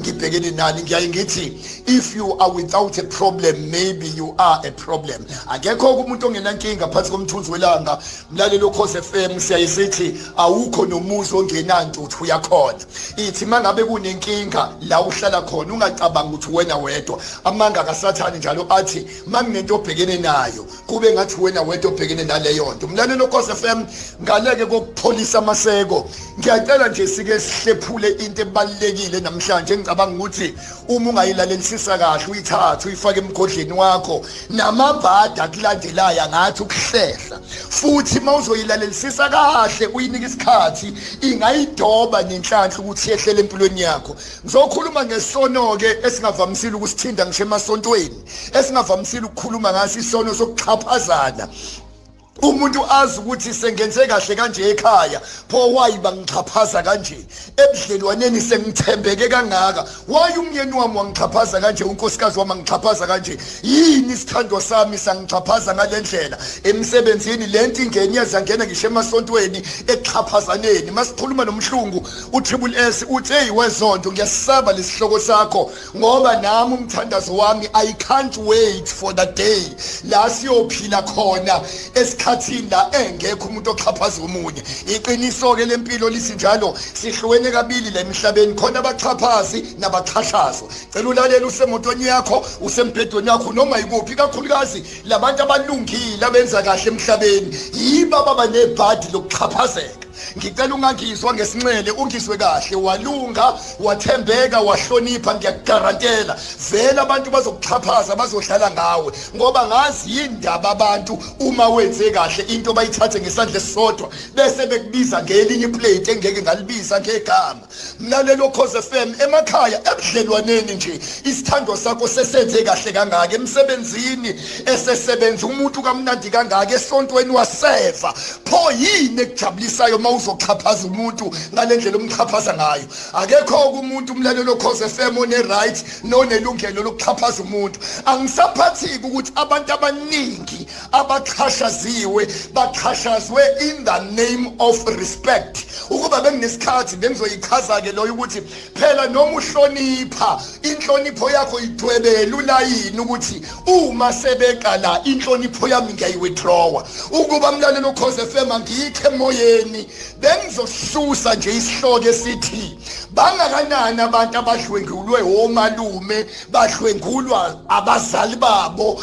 ngibhekene nani ngiyaye ngithi if you are without a problem maybe you are a problem akekho umuntu ongenankinga phansi komthunzi welanga mlaleli okhoze FM siyaye sithi awukho nomuzi ongenantuthu uyakhona ithi mangabe kunenkinga la uhlala khona ungacabanga ukuthi wena wedwa amanga kasathane njalo athi manginento obhekene nayo kube ngathi wena wedwa obhekene naleyo nto mlalelo cause FM ngaleke kokupholisa amaseko ngiyacela nje sike sihlephule into ebalekile namhlanje ngicabanga ukuthi uma ungayilalelisisa kahle uyithathe uyifake emgodleni wakho namabhada kulandelayo ngathi ukuhlehla futhi mawuzoyilalelisisa kahle uyinike isikhathi ingayidoba nenhlanhla ukuthi yehlele empilweni yakho ngizokhuluma ngesono ke esingavamisile ukusithinda ngisho emasontweni esingavamisile ukukhuluma ngaso isono sokuxhaphazana umuntu azi ukuthi sengenze kahle kanje ekhaya pho wayi bangixhaphaza kanje ebudlelwaneni sengithembeke kangaka wayi umyeni wami wangixhaphaza kanje unkosikazi wami angixhaphaza kanje yini isithandwa sami sangixhaphaza ngale ndlela emsebenzini le nto ingeni yazangena ngisho emasontweni ekuxhaphazaneni masikhuluma nomhlungu utriple s uthi eyi wezonto ngiyasisaba lesihloko sakho ngoba nami umthandazo wami i can't wait for the day la siyophila khona esikhathini la engekho umuntu oxhaphaza omunye iqiniso-ke lempilo lisinjalo sihlukene kabili la emhlabeni khona abaxhaphazi nabaxhashazwa cela ulalele usemotweni yakho usembhedweni yakho noma yikuphi ikakhulukazi labantu abalungile abenza kahle emhlabeni yibo ababa nebhadi lokuxhaphazeka ngicela ungangizwa ngesinxele ungizwe kahle walunga wathembeka wahlonipha ngiyakugarantela vele abantu bazokuxhaphaza bazodlala ngawe ngoba ngazi yindaba abantu uma wenze kahle into bayithathe ngesandla esisodwa bese bekubiza ngelinye iplate engeke ngalibiza ngegama mlaleli okhoze fm emakhaya ebudlelwaneni nje isithando sakho sesenze kahle kangaka emsebenzini esesebenza umuntu kamnandi kangaka esontweni waseva pho yini ekujabulisayo uma uzoxhaphaza umuntu ngale ndlela omxhaphaza ngayo akekho-ke umuntu umlaleli okhoze fm one-right nonelungelo lokuxhaphaza umuntu angisaphathiki ukuthi abantu abaningi abaxhashaziwe baxhashazwe in the name of respect ukuba benginesikhathi bengizoyichaza-ke loyo ukuthi phela noma uhlonipha inhlonipho yakho idwebela ulayini ukuthi uma sebekala inhlonipho yami ngiyayiwithdrawa ukuba mlalelo cause fm angikho emoyeni bengizosusa nje isihloko esithi bangakanani abantu abadlwengulwe omalume badlwengulwa abazali babo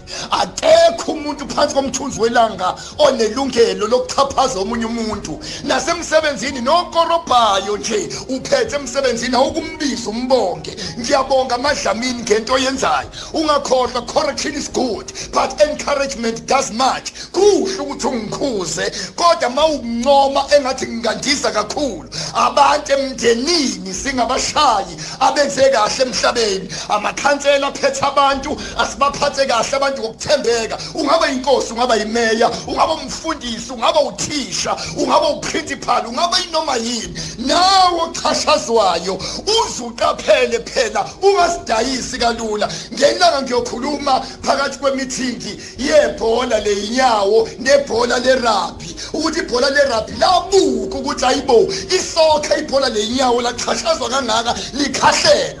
akekho umuntu phansi komthunzi welanga onelungelo lokuchaphaza omunye umuntu nasemsebenzini nokorobhayo nje uphethe emsebenzini awukumbiza umbonge ngiyabonga amadlamini ngento oyenzayo ungakhohlwa correction is good but encouragement does much kuhle ukuthi ungikhuze kodwa uma ukuncoma engathi ngingandiza kakhulu abantu emndenini singabashayi abenze kahle emhlabeni amakhansela aphethe abantu asibaphathe kahle abantu ngokuthembeka ungaba inkosi ungaba imeya ungaba umfundisi ungaba uthisha ungaba uprincipal ungaba inoma yini nawe ochashazwayo uzuqaphele phela ungasidayisi kalula ngenanga ngiyokhuluma phakathi kwemithingi yebhola leyinyawo nebhola lerabhi ukuthi ibhola lerabhi labuka ukuthi ayibo isokha ibhola leyinyawo lachashazwa kangaka likhahlelwa